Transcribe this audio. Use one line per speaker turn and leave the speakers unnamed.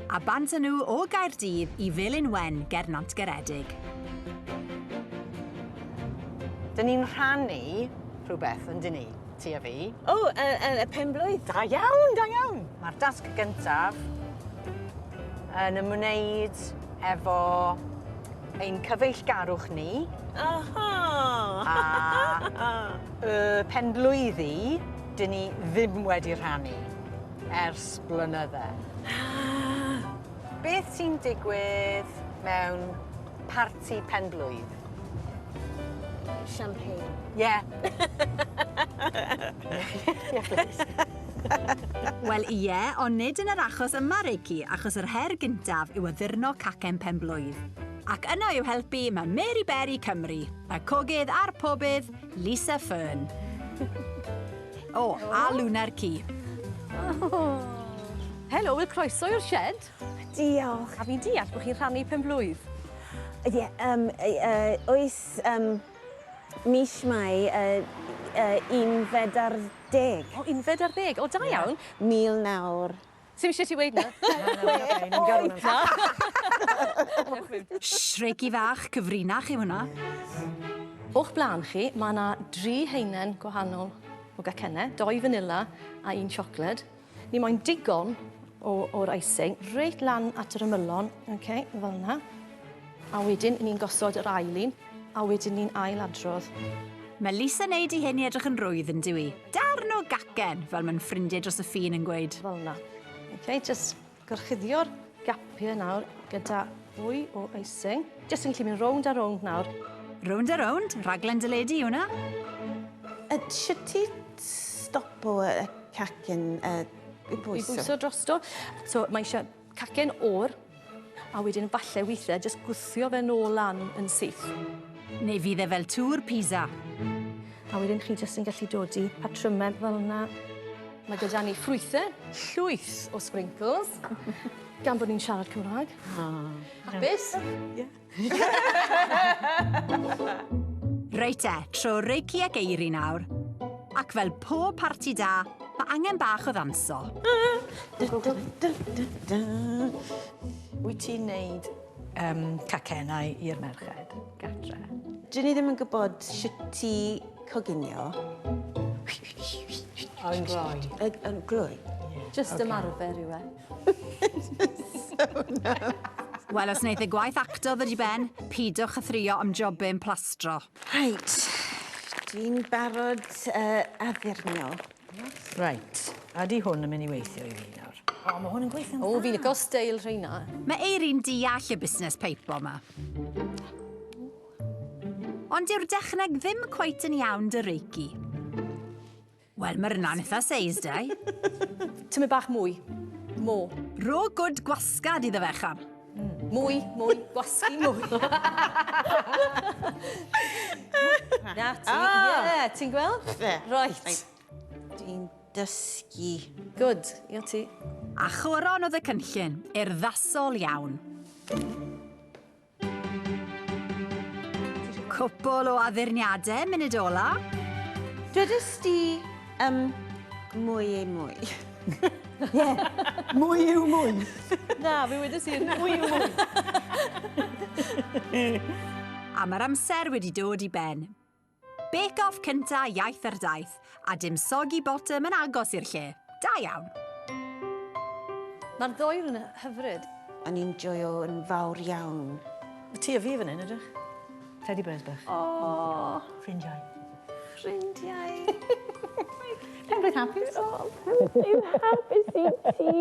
A bant â nhw o Gaerdydd i Felin Wen ger Nantgaredig. Dyn ni'n rhannu rhywbeth, yn dyn ni, ti a fi? O, y, y, y penblwydd. Da iawn, da iawn. Mae'r dasg gyntaf yn ymwneud efo ein cyfeillgarwch ni. Aha! A y penblwydd i, dyn ni ddim wedi rhannu. Ers blynydde. Beth sy'n digwydd mewn parti pen-blwydd? Champagne. Ie. Wel ie, ond nid yn yr achos yma, Reici, achos yr her gyntaf yw addurno cacen pen-blwydd. Ac yno i'w helpu mae Mary Berry Cymru, y cogydd a'r pobydd, Lisa Fearn. O, a Luna'r ci. Helo, wel croeso i'r shed. Diolch. A fi'n deall bod chi'n rhannu penblwydd. Ie, yeah, um, uh, oes um, mis mai uh, uh, unfed ar deg. O, unfed ar ddeg. O, da iawn. Yeah. Mil nawr. Ti'm isio ti weud 'na? Shreggy fach cyfrinach yw hwnna. O'ch blaen chi, mae 'na dri haenen gwahanol o gacenne, dou fanila a un siocled. Ni moyn digon o, o'r icing, reit lan at yr ymylon, ok, fel 'na. A wedyn ni'n gosod yr ail un, a wedyn ni'n ail adrodd. Mae Lisa neud i hyn i edrych yn rwydd, yn dyw i. Darn o gacen, fel mae'n ffrindiau dros y ffin yn gweud. Fel na. Ok, just gorchuddio'r gapiau nawr gyda fwy o icing. Just yn gallu mynd rownd a rownd nawr. Rownd a rownd, rhaglen dyledu yw hwnna. A sut ti stopo y cacen uh, i bwyso? I bwyso drosto. So mae eisiau Cacen oer, a wedyn falle weithiau jyst gwthio fe nôl lan yn syth. Neu fydd e fel tŵr Pisa. A wedyn chi jyst yn gallu dod i patrymau fel yna. Mae gyda ni ffrwythau, llwyth o sprinkles, gan bod ni'n siarad Cymraeg. O. Hapus? Ie. Reit te, tro Reiki ac Eiri nawr. Ac fel pob parti da, mae angen bach o ddanso. Wyt ti'n neud um, cacennau i'r merched gatre? Dyn ni ddim yn gwybod sut ti coginio. Yn gloi. Yn gloi? Just ymarfer yw e. Wel, os wneith y gwaith acto ddod i ben, pidwch a thrio ymjobyn plastro. Reit, dwi'n barod uh, addurnio. Reit, a di hwn yn mynd i weithio i fi nawr? O, mae hwn yn gweithio'n dda. O, fi licio steil rheina. Mae Eiri'n deall y busnes peipo yma. Ond dyw'r dechneg ddim cweit yn iawn dy reiki. Wel, mae'r yna'n eitha seis, dau. Tymu bach mwy. Mo. Ro gwd gwasgad iddo fe, cham. Mm. Mwy, mwy, gwasgu mwy. Na ti, ah! ie, ti'n gweld? Right. Dwi'n dysgu. Good, io ti. A choron oedd y cynllun, urddasol iawn. Cwpl o addurniadau munud ola. Dwedais di um, mwy ei mwy. Ie, mwy yw mwy. Na, fi wedi sy'n mwy yw mwy. A mae'r amser wedi dod i ben. Bake off cynta iaith ar daith, a dim soggy bottom yn agos i'r lle. Da iawn! Mae'r ddwy yn hyfryd. O'n i'n joio yn fawr iawn. Mae tŷ a fi fan hyn, edrych. Teddy bears bach. Aww. Ffrindiau. Ffrindiau. Penblwydd hapus. O, penblwydd hapus i ti!